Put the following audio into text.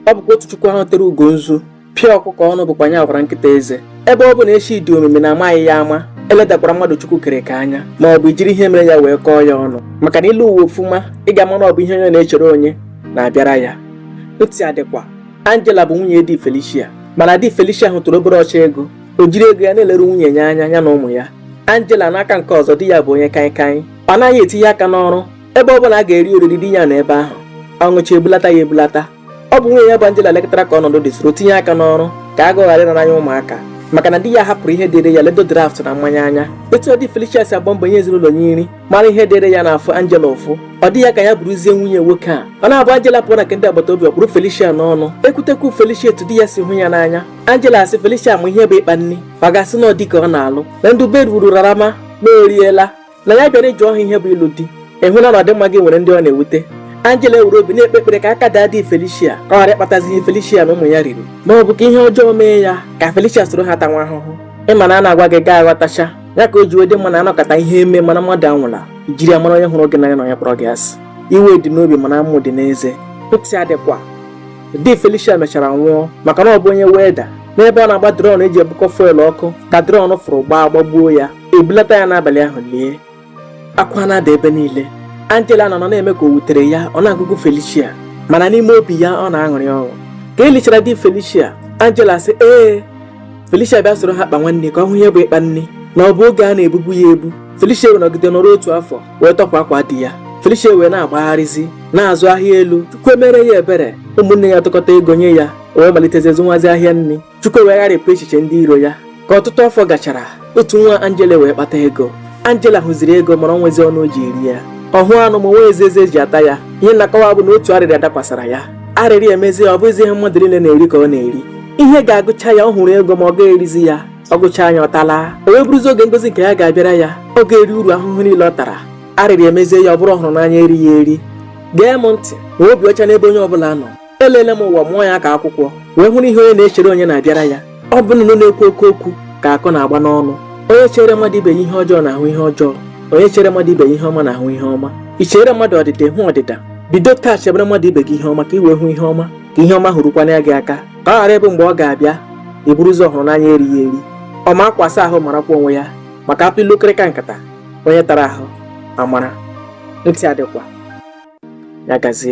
ọ bụkwa otu chukwu ahụ tere ugo nzu pịa ọkụkọ ọnụ bụkwa nya gwara nkịta eze ebe ọ bụ na echi dị omimi na amaghị ya ama eledakwara mmadụ chukwu kere ka anya ma ọ bụ ijiri ihe mere ya wee kọọ ya ọnụ maka na i lee ụwa ọfụma ị ga-ama na ọ bụ ihe onye na-echere onye na-abịara ya ntị adịkwa Angela bụ nwunye di Felicia mana di Felicia hụtụrụ obere ọcha ego o jiri ego ya na-eleru nwunye ya anya ya na ụmụ ya Angela n'aka nke ọzọ di ya bụ onye kaịkaị ọ naghị etinye aka n'ọrụ ebe ọ bụla a ga-eri oriri di ya nọ ebe ahụ ọ ṅụcha ebulata ya ebulata ọ bụ nwunye ya bụ Angela lekọtara ka ọnọdụ dị soro tinye aka n'ọrụ ka agụụ ghara ịnọ n'anya ụmụaka maka na di ya hapụrụ ihe dịrị ya ledo draft na mmanya anya etu di Felicia si agba mbọ nye ezinụlọ ya nri mara ihe dịrị ya na-afụ Angela ụfụ ọ dị ya ka ya bụrụzie nwunye nwoke a ọ na-abụ Angela pụọ na nke ndị agbata obi ọ kpụrụ Felicia n'ọnụ e kwute okwu Felicia etu di ya si hụ ya n'anya Angela asị Felicia ma ihe bụ ịkpa nri ọ ga-asị na ọ di ka ọ na-alụ na ndụ bed rarama na oriela na ya bịara ịjụ ọha ihe bụ ịlụ di ị hụla na ọdịmma gị nwere ndị ọ na-ewute Angela ewere obi na-ekpe ekpere ka aka daa di Felicia ka ọ ghara ịkpatazi ihe Felicia na ụmụ ya riri ma ọ bụ ka ihe ọjọọ mee ya ka Felicia soro ha tanwa ahụhụ ị ma na a na-agwa gị ị ga-aghọtacha ya ka o ji wee dị mma na a nọkata ihe emee mana mmadụ anwụla jiri ya mara onye hụrụ gị n'anya na onye kpọrọ gị asị iwe dị n'obi mana amụ dị n'eze ntị adịkwa di Felicia mechara nwụọ maka na ọ bụ onye welder n'ebe ọ na-agba drum eji ebukọ fuel ọkụ ka drum fụrụ gbaa gbagbuo ya ebulata ya n'abalị ahụ lie akwa na-ada ebe niile Angela nọ na-eme ka o wutere ya ọ na-agụgụ Felicia mana n'ime obi ya ọ na-aṅụrị ọṅụ ka e lichara di Felicia Angela sị ee Felicia bịa soro ha kpanwa nri ka ọ hụ ihe bụ ịkpa nri na ọ bụ oge a na-ebubu ya ebu Felicia wee nọgide nọrọ otu afọ wee tọpụ akwa di ya Felicia wee na-agbagharịzi na-azụ ahịa elu Chukwu emere ya ebere ụmụnne ya tụkọta ego nye ya o wee malitezie zụnwazi ahịa nri Chukwu wee gharịpụ echiche ndị iro ya ka ọtụtụ afọ gachara otu nwa Angela wee kpata ego Angela hụziri ego mana o nweghịzi ọnụ o ji eri ya ọ hụ anụ ma o nweghịzi eze e ji ata ya ihe m na-akọwa bụ na otu arịrịa dakwasara ya arịrị emezie ya ọ bụghịzi ihe mmadụ niile na-eri ka ọ na-eri ihe ga-agụcha ya ọ hụrụ ego ma ọ gaghị erizi ya ọ gụcha ya ọ tala o wee bụrụzi oge ngozi nke ya ga-abịara ya ọ ga-eri uru ahụhụ niile ọ tara arịrị emezie ya ọ bụrụ ọhụrụ n'anya erighị eri gee m ntị ma obi ọcha n'ebe onye ọ bụla nọ elele m ụwa mụọ ya ka akwụkwọ wee hụ na ihe onye na-echere onye na-abịara ya ọ bụ nnụnụ na-ekwu oke okwu ka akụ na-agba n'ọnụ onye chere mmadụ ibe ya ihe ọjọọ na-ahụ ihe ọjọọ onye chere mmadụ ibe ya ihe ọma na-ahụ ihe ọma i chere mmadụ ọdịda hụ ọdịda bido taa chebere mmadụ ibe gị ihe ọma ka i wee hụ ihe ọma ka ihe ọma ahụ rukwanụ gị aka ka ọ ghara ịbụ mgbe ọ ga-abịa ị bụrụzi ọhụrụ n'anya erighị eri ọ ma akwa asa ahụ marakwa onwe ya maka a tụọ ilu nkịrịka nkata onye tara ahụ amara ntị adịkwa ya gazie